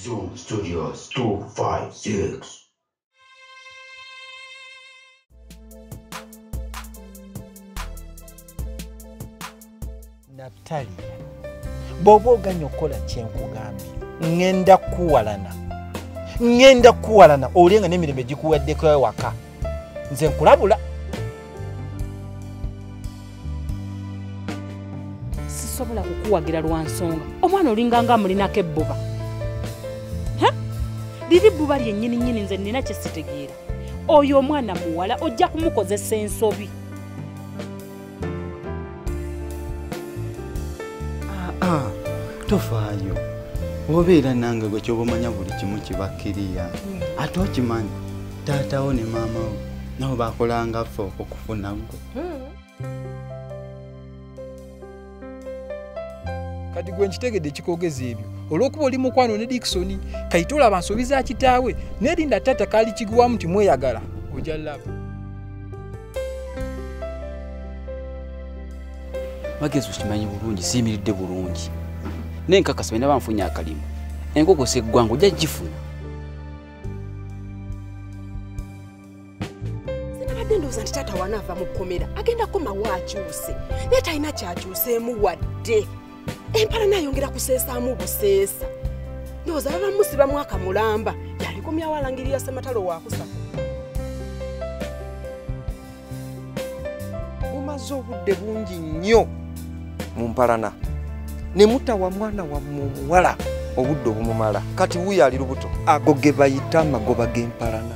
Zoom Studios 256. Naphtali, bw'oba oganya okukola kyenkugambye ngenda kukuwalana ngenda kukuwalana olye nga n'emirembe gikuwaddeko ewaka nze nkulabula sisobola kukuwagira lwa nsonga omwana olinganga amulinako ebbuba liri bbuba lyennyini nnyini nze nnina kye sitegeera oyo omwana muwala ojja kumukozesa ensobi tofaayo obeera nange gwe kyoba omanya buli kimu kibakkiriya ate okimanyi taatawo ne maamawo nabo bakolangaffe okufuna gwe kati gwe nkitegedde ekikogeza ebyo olwokuba oli mukwano ne dikisoni kayite olaba nsobi za kitaawe nerinda taata kaali kiguwamu nti mweyagala oja laba magezi okimanyi bulungi siyimiridde bulungi naye nkakasa bena banfunye akalimu enkoko seggwanga ojja gifuna sinabadde ndowooza nti taata wanaava mu kkomera agenda komawo akyuse naye talina kyakyuseemu wadde empala nayongera kuseesaamu buseesa ndowooza baba musiba mwaka mulamba yalikomyawo alangirira sematalo wakusa mumaze obudde bungi nnyo mu mpalana ne mutawa mwana wammwe omuwala obudde obumumala kati wuyo ali lubuto ago ge bayita amagoba g'empalana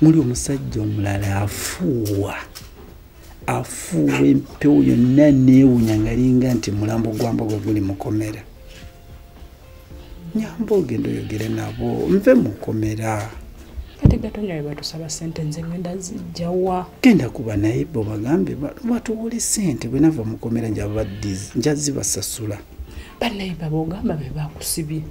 muli omusajja omulala afuuwa afuuwa empewo yonna neewunya ngalinga nti mulambo gwa mbogo guli mukomera nyamba ogenda oyogere nabo nve mukomera kati gatonya webatusaba sente nze ngenda zijjawa genda kuba naye bo bagambe batuwole sente bwenava mukomera njababadizi njazibasasula banaye babogamba bebakusibye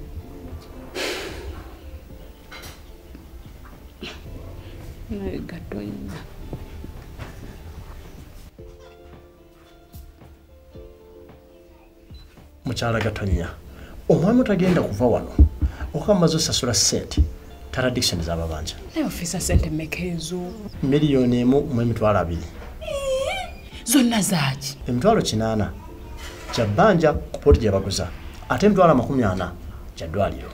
mukyala gatonya omwami otagenda kuva wano okuba mumaze osasula sente taradictioni zababanja naye ofisa sente meka ezo miliyoni emu mu emitwalo abiri zonna zaaki emitwalo kinaana kyabbanja ku poti gyebaguza ate emitwalo amakumi ana kyaddwaliro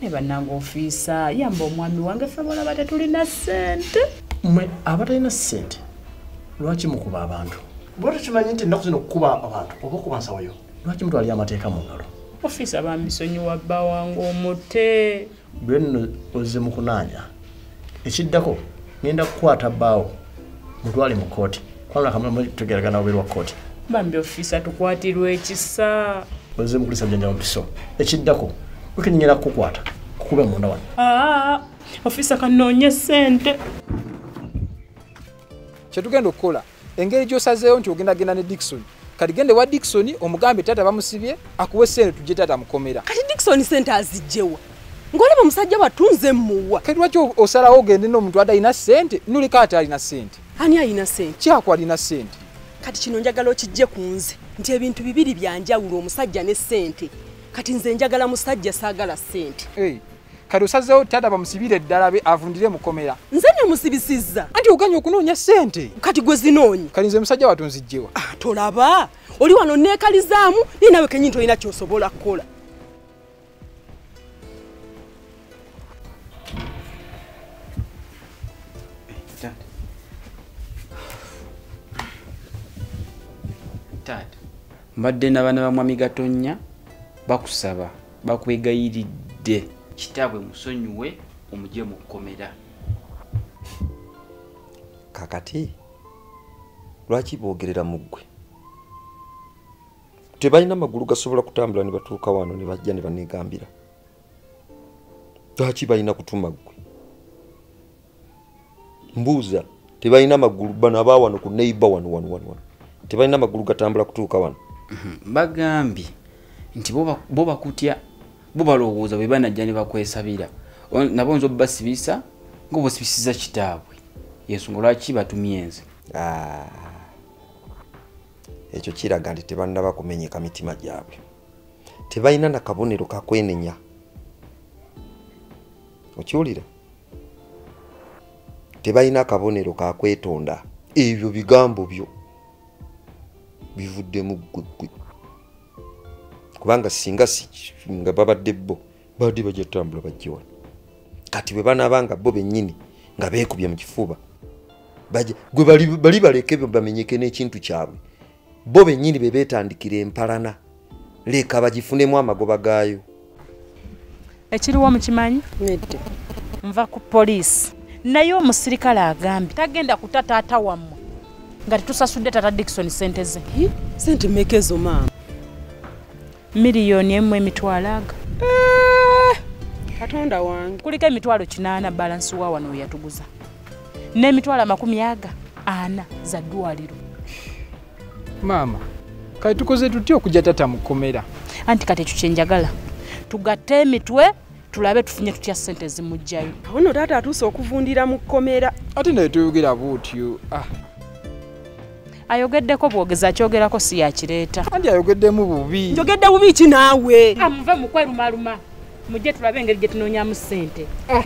ne bannanga ofiisa yamba omwami wange ffe balaba tetulina ssente mwe abatalina ssente lwaki mukuba abantu bwati kimanyi nti ennaku zino okukuba abantu oba okuba nsawoyo lwaki mutwalira amateeka mu ngalo ofiisa bambisonyiwa bba wange omute lwenno oze mu kunaanya ekiddako ngenda kukwata bbaawo mutwale mu kooti kubanga kamulamu tugeragana oberi wa kooti bambi ofisa tukwatirwa ekisa oze mukulisa bujanja mubiso ekiddako wekenyera kukukwata kukube munda wano ah, ofisa kanoonye sente kyetugenda okukola engeri gyosazeewo nti ogenda genda ne dikisoni kati gende wa dikisoni omugambe taata bamusibye akuwe sente tujje taata mukomera kati dikisoni sente azijjewa ngolaba omusajja wattu nze muwa kati lwaki osalawo ogende n'omuntu adalina sente nulika ate alina sente ani alina sente kyaku alina sente kati kino njagala okijje ku nze nti ebintu bibiri byanjawulo omusajja ne sente kati nze njagala musajja saagala sente hey. kati osazeewo taata bamusibire eddala be avundire mukomera nze nemusibisizza anti oganye okunoonya sente kati gwe zinoonya kati nze musajja watu nzijjewa ah, tolaba oli wano neekalizaamu naye nawe kenyini tolina kyosobola kukola mbadde nabana bamwami gatonnya bakusaba bakwegayiridde kitaabwe musonyiwe omugye mu kkomera kakati lwaki boogerera mu ggwe tebalina amagulu gasobola kutambula ne batuuka wano ne bajja ne banegambira lwaki balina kutuma ggwe mbuuza tebalina magulu bano aba wano ku neiba wano wano wano wano tebalina magulu gatambula kutuuka wano mhm. bagambye nti bo bakutya bo balowooza bwe banajja ne bakwesabira nabo nza obasibisa ngaobasibisiza kitaabwe yensonga lwaki batumyenze ah. ekyo kiraga nti tebanaba kumenyeka mitima gyabwe tebalina nakabonero kakwenenya okiwulira tebalina kabonero ka kwetonda ebyo bigambo byo bivuddemu ggweggwe kubanga singa nga babadde bo babadde bajja tutambula bajja wano kati bwe banaaba nga bo bennyini nga beekubye mu kifuba gwe bali baleke bamenyeke n'ekintu kyabwe bo bennyini be beetandikira empalana leka bagifunemu amagoba gaayo ekiriwo mukimanyi nedde nva ku poliisi naye omusirikale agambye tagenda kuta taata wammwe nga tetusasudde tata dikisoni sente ze sente meka ezo maama miliyoni emu emitwalo aga eh, katonda wange kuliko emitwalo kinaana balansi wa wano weyatuguza n'emitwalo amakumi aga ana za ddwaliro maama kati tukoze tutya okujja tata mu kkomera anti kati ekyo kyenjagala tugatte emitwe tulabe tufunye tutya ssente ezimugjayo awo no taata atuuse okuvundira mu kkomera ate naye tuyogera buutyo ah. ayogeddeko bwogezi akyogerako si yakireeta andi ayogeddemu bubi njogedde bubi ki naawe amuve ah, mukwerumaluma mujje tulabe engeri gye tunoonyamu ssente eh.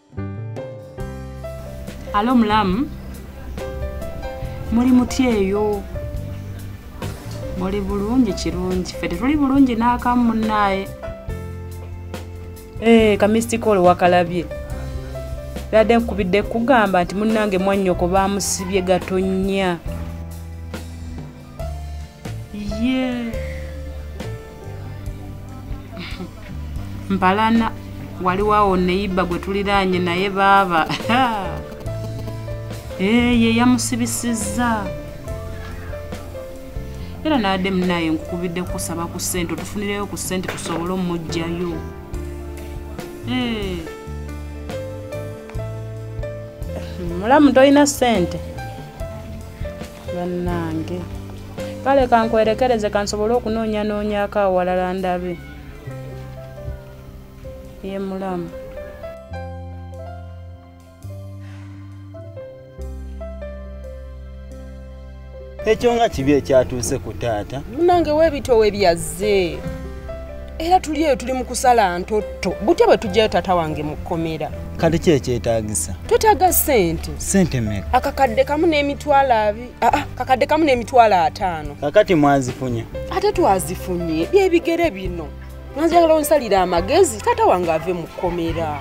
Alo mulamu. Muli mutya eyo? Muli bulungi kirungi. Ffe tetuli bulungi n'akamu munnaaye. Ee, eh, kamisitikooli wakalabye. Yadde nkubidde kugamba nti munnange mwannyoko baamusibye gatonnya. ye mbalana waliwo awo neyiba gwe tuliraanye naye baaba eh, ye yamusibisizza era naadde munaye nkukubidde kusaba ku ssente otufunireyo ku ssente tusobole omujjayo eh. mulamu tolina ssente bannange kale kankwerekereze kansobole okunoonya noonyako awalala ndabe ye mulamu ekyo nga kibi ekyatuuse ku taata munange webitowe byazze era tuli eyo tuli mu kusala ntotto butya bwe tujjayo taata wange mu kkomera kati ki ekyetagisa twetaaga sente sente meka akakadde kamu n'emitwalo abi aa ah, ah, kakadde kamu n'emitwalo ataano kakati mwazifunye ate twazifunye byebigere bino mwanjagala onsalira amagezi taata wange ave mu kkomera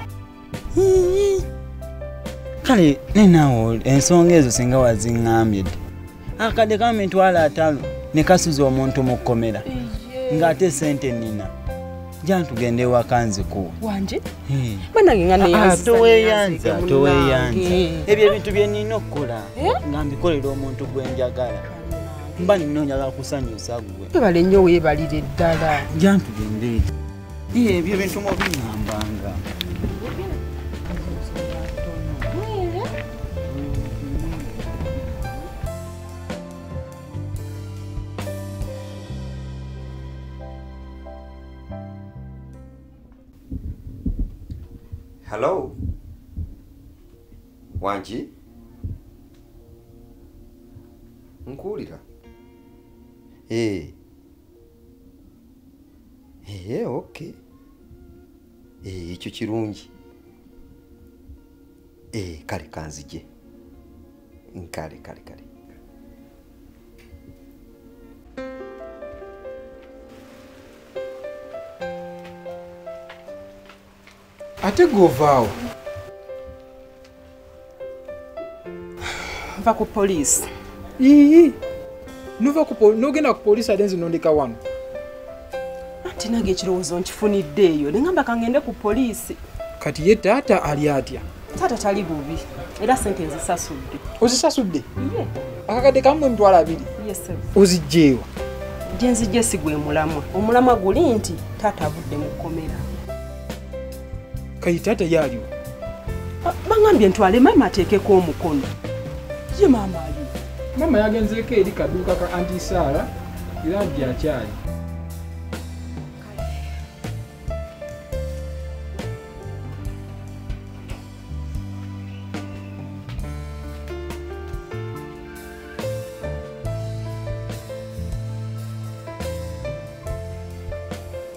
kale nenawo ensonga ezo singa waziŋambye dda akadde kamu mitwalo atano ne kasuza omuntu mu kkomera ng'ate sente nina jantugende ewaka nzikuwa wanje hmm. banange nga neyanzatoweyanza ah, toweyanza ebyo ebintu bye nina okukola eh? nga mbikolera omuntu gwe njagala mba nina onjagala kusanyusa gwe ebale nnyo weebalire ddala jantugende ebyo bintu mubiŋambanga Hello. Wanji? Nkuulira. Eh. Hey. ee eh, ok eh, ekyo kirungi ee kale kanzije nkale kale kale ate govaawo va ku poliisi iyi nova nogenda ku poliisi ate nzinondeka wano anti nange ekirowoozo nkifunidde eyo nengamba kangende ku poliisi kati ye taata ali atya taata tali bubi era sente nzisasudde ozisasudde akakadde kamu emitwalo abiri ozijjeewa gyenzijje sigwe mulamwa omulamwa guli nti taata avudde mu kkomera kayita ate yaaliwo ah, baŋambye ntwale maama ateekeko omukono ye maama ali maama yagenzeeko eri kaduuka ka antisaala era nti akyali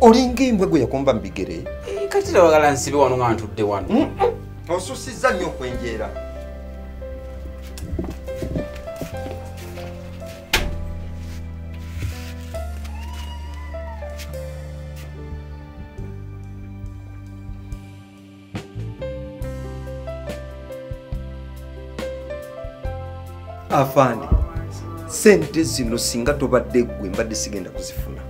olinga embwa gwe yakomba mu bigere eh, kati tawagala nsibe wano nga ntudde wano mm, mm. osusizza nnyo okwenjeera afande sente zino singa tobadde gwe mbadde sigenda kuzifuna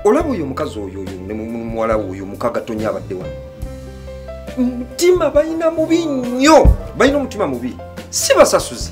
olaba oyo omukazi oyo oyo nemuwala oyo mukaga tonya abadde wano mutima balina mubi nnyo balina omutima mubi si basasuzi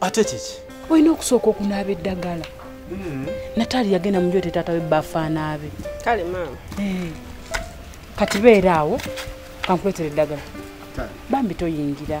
ate kiki olina okusooka okunaaba eddagala hmm. nataali yagenda mu njote taata we bafaanaabe kale maama eh. kati beera awo kankuletera eddagala bambi toyingira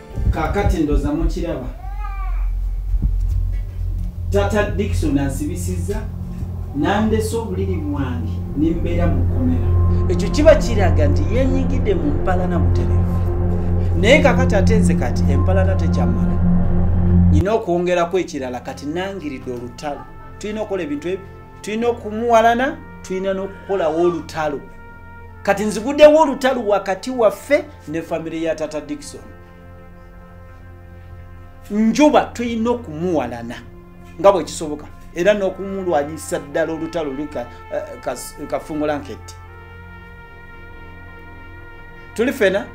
kakati ndoza mukiraba tata dikson ansibisiza nandese obuliri bwange nembeera mukomera ekyo kiba kiraga nti yenyigidde mu mpalana buterevu naye kakati ate nze kati empalana tekyamala nyina okwongeraku ekirala kati nangiridde olutalo tulina okukola ebintu ebyo tulina okumuwalana tulina n'okukolawo olutalo kati nziguddewo olutalo wakati waffe ne famire ya tata dikson njuba tulina okumuwalana nga bwekisoboka era n'okumulwanyisa ddala olutalo luli eh, kafungula nketti tuli fena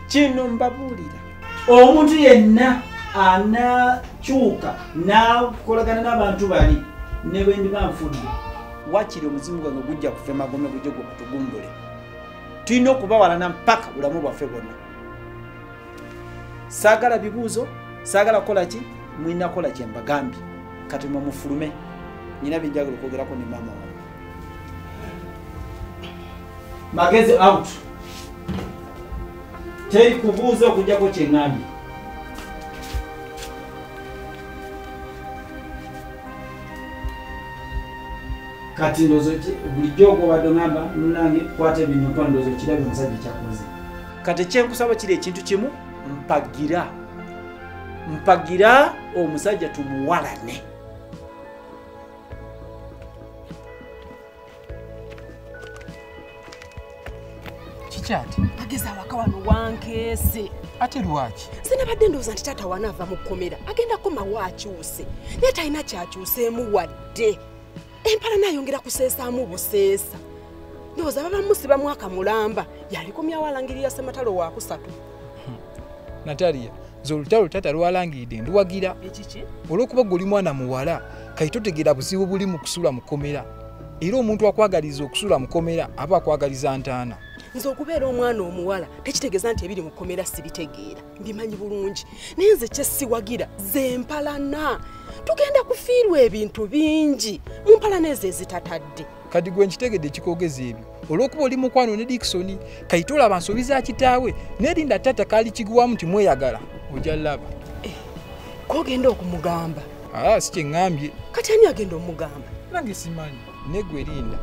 kino mbabuulira omuntu yenna anakyuka nakolagana n'abantu bali ne bwendiba nfudde wakiri omuzimu gwange gujja kufa emagome gujja gwe kutugumbule tulina okubawalana mpaka bulamu bwaffe bwonna saagala bibuuzo saagala kukola ki mulina kukola kye mbagambye kati mwe mufulume nyina byenjagala okwogerako ne maama wa magezi out teri kubuuza okujjako kyeŋambye kati ndozo bulijjo ogobadde ogamba munange kwata ebintu mpa ndozo kirabye omusajja kyakoze kati ekyenkusaba kiri ekintu kimu mpagira mpagira omusajja tumuwalane kikyati ageza awaka wano wankeese ate lwaki sinabadde ndowooza nti taata wana ava mu kkomera agenda komawo akyuse naye talina kyakyuseemu wadde empala nayongera kuseesaamu buseesa ndowooza babamusiba mwaka mulamba yalikomyawo alangirira sematalo wakusatu natalia nze olutalo taata lwalangiride nduwagira olwokuba gwe oli mwana muwala kati totegeera buzibu buli mu kusula mukomera era omuntu akwagaliza okusula mukomera aba akwagaliza ntaana nze okubeera omwana omuwala tekitegeeza nti ebiri mukomera sibitegeera mbimanyi bulungi naye nze kyesiwagira zempalana tugenda kufiirwa ebintu bingi mu mpalana ezo ezitatadde kati gwe nkitegedde kikogeza ebyo olwokuba oli mukwano ne diksoni kayita olaba nsobi za kitaawe nerinda taata kaali kigwamu nti mweyagala oja laba eh, kogenda okumugamba ah, si kyeŋambye kati ani agenda omugamba nange simanyi negwe linda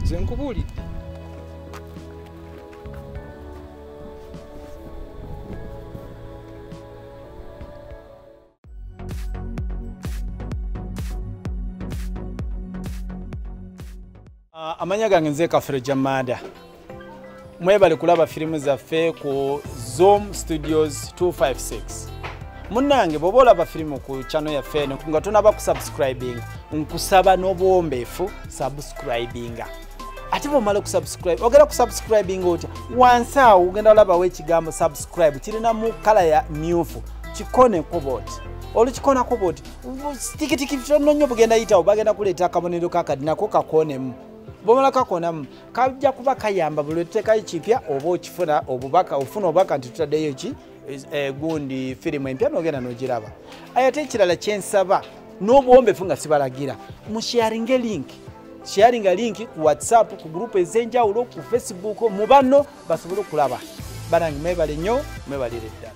ze nkubuulidde Ah, amanya gange nze kafere jamada mwebale kulaba firimu zaffe ku zoom studios 256 munange bwoba olaba firimu ku chano yaffe eno nga tonaba kusubscribing nkusaba n'obuwombeefu subscribinga ate bwomala okusubscribe ogenda kusubscribing otya wansi awo ogenda olabawo ekigambo subscribe kirinamu kala ya myufu kikoneko boti olukikonako boti tikitiki tono nyo bugenda yitawo bagenda kuleeta akabonero kakadi nako kakonemu bwomala kakonamu kajja kuba kayamba buli otutekayo kipya oba okifuna obubaka ofuna obubaka nti tutaddeyo ki Eh, gundi firimu empya nogenda nogiraba ayate ekirala kyensaba n'obuwombefu nga sibalagira musharinge link sharinga link ku whatsapp ku gurupu ez'enjawulo ku facebook mu banno basobole okulaba banange mwebale nnyo mwebalire ddala